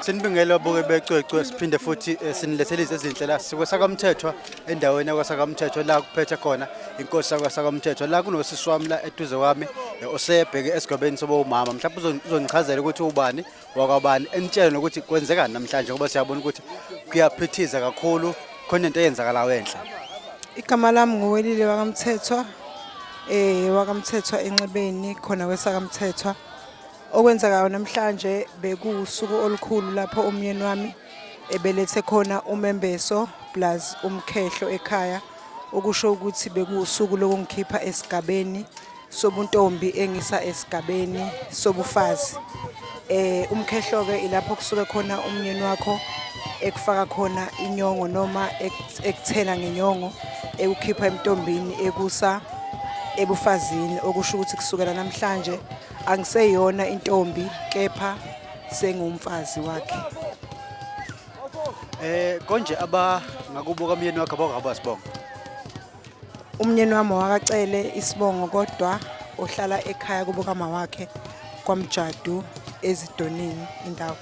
Sinibingela boke becwecwe siphinde futhi eh, sinilethele izinto ezinhle la siko sakamthethwa endaweni yakwasakamthethwa la kuphethe khona inkosi yakwasakamthethwa la kunosisi wami la eduze kwami eh, osebheke esigabeni soba umama mhlawumbe uzon- uzonichazela ukuthi ubani wakwabani enitshele nokuthi kwenzekani namhlanje ngoba siyabona ukuthi kuyaphithiza kakhulu khona into eyenzakalayo enhla igama lami nguwelile wakamthethwa eh wakamthethwa enxebeni khona kwesakamthethwa okwenzekayo namhlanje bekuwusuku olukhulu lapho umyeni wami ebelethe khona umembeso plus umkhehlo ekhaya okusho ukuthi bekuwusuku lokungikhipha esigabeni sobuntombi engisa esigabeni sobufazi eh umkhehlo-ke ilapho kusuke khona umnyeni wakho ekufaka khona inyongo noma ekuthena ngenyongo ekukhipha emntombini ekusa ebufazini okusho ukuthi kusukela namhlanje angiseyona intombi kepha sengumfazi wakhe eh konje aba ngakubuka umyeni wakhe abakwazi bonke Umnyeni wami wakacele isibongo kodwa uhlala ekhaya kubo kamawakhe kwamjadu ezidonini indawo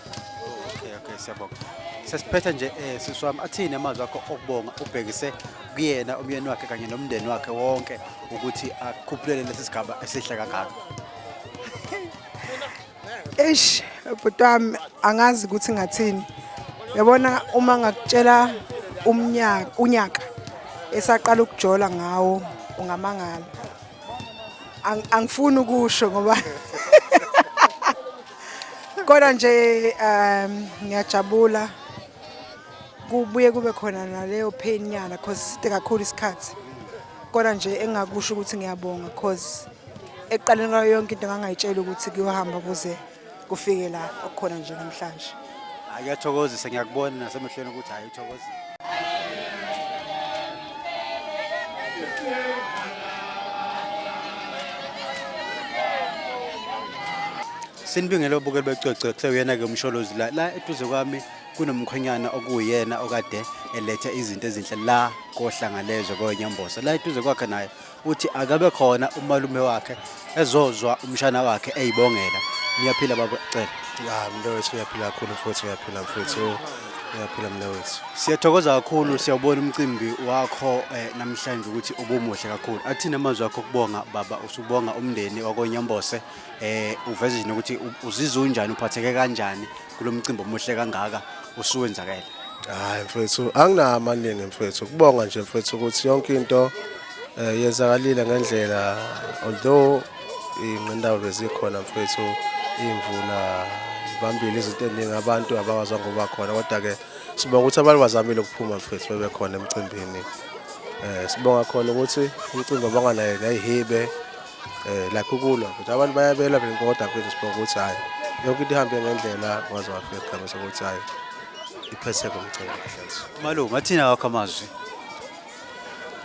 Okay, okay, siyabonga. Sesiphetha nje eh sisi wami athini amazwi akho okubonga ubhekise kuyena umyeni wakhe kanye nomndeni wakhe wonke ukuthi akhuphulele lesi sigaba esihle kangaka. eish bhuti wami angazi ukuthi ngathini yabona uma ngakutshela umnyaka unyaka esaqala ukujola ngawo ungamangala Ang- angifuni ukusho ngoba kodwa nje um ngiyajabula kubuye kube khona naleyo pain nyana cause side kakhulu isikhathi kodwa nje engakusho ukuthi ngiyabonga cause Ekuqaleni kwayo yonke into ngangayitshela ukuthi kuyohamba kuze kufike la okukhona nje namhlanje. Akuyathokozisa ngiyakubona nasemehlweni ukuthi hayi uthokozile. Sinibingele obukeli becwecwe kusewuyena-ke umsholozi la la eduze kwami kunomkhwenyana okuwuyena okade eletha izinto ezinhle la kohlangalezwe kowenyambosa la eduze kwakhe naye uthi akabe khona umalume wakhe ezozwa umshana wakhe eyibongela niyaphila baba cela ya mntowethu uyaphila kakhulu futhi uyaphila futhi uyaphila mntowethu siyathokoza kakhulu siyawubona umcimbi wakho eh, namhlanje ukuthi ubumuhle kakhulu athina amazwi akho kubonga baba usubonga umndeni wakonyambose eh uveze nje ukuthi uzizwa unjani uphatheke kanjani kulo mcimbi omuhle kangaka usuwenzakele hayi mfethu anginama amaningi mfethu kubonga nje mfethu ukuthi yonke into eh, yenzakalile ngendlela although ingqindawo bezikhona mfethu imvula ibambile izinto eziningi abantu abakwazanga ukuba khona kodwa-ke sibonga ukuthi abantu bazamile ukuphuma mfethu bebekhona emcimbini um sibonga khona ukuthi umcimbi abanganayo nayihibe eh like ukulwa but abantu bayabela benkoda kwethu siphoko ukuthi hayi yonke into ihambe ngendlela waze wafika isikhathi sokuthi hayi iphetheke umcebo kahle malu ngathini awakho amazwi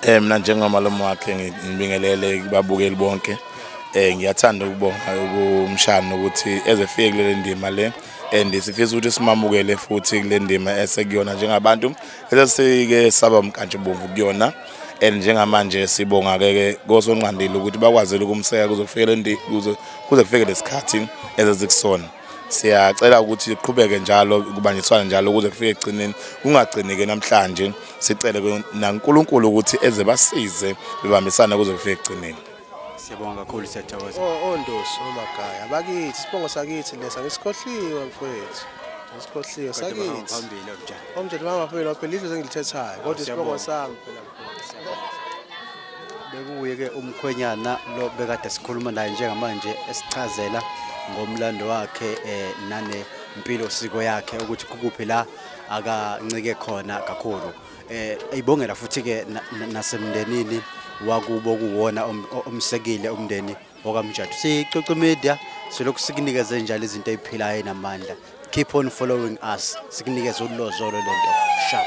eh mina njengomalume wakhe ngibingelele kubabukeli bonke eh ngiyathanda ukubonga kumshana ukuthi ezefike kule ndima le and sifisa ukuthi simamukele futhi kule ndima esekuyona njengabantu esesike saba mkantshi bomvu kuyona and njengamanje sibonga ke ke kosonqandile ukuthi bakwazile ukumseka kuzokufikela endi kuze kuze kufike lesikhathi ezezikusona siyacela ukuthi siqhubeke njalo kubanjiswana njalo ukuze kufike egcineni kungagcini ke namhlanje sicele naNkulunkulu ukuthi eze basize bebambisana kuze kufike egcineni Siyabonga kakhulu siyathokoza. Oh ondosi omagaya oh abakithi sibongo sakithi lesa ngisikhohliwe mfowethu. Ngisikhohliwe sakithi. Phambili obujana. Omjana mama phela phela izwe engilithethayo kodwa isibongo sami phela bekuye ke umkhwenyana lo bekade sikhuluma naye njengamanje esichazela ngomlando wakhe eh nane impilo siko yakhe ukuthi kukuphi la akancike khona kakhulu eh ayibongela futhi ke nasemndenini wakubo kuwona omsekile umndeni okamjadu sicoco media silokhu sikunikeze njalo izinto eziphilayo namandla keep on following us sikunikeze ulozolo lento sharp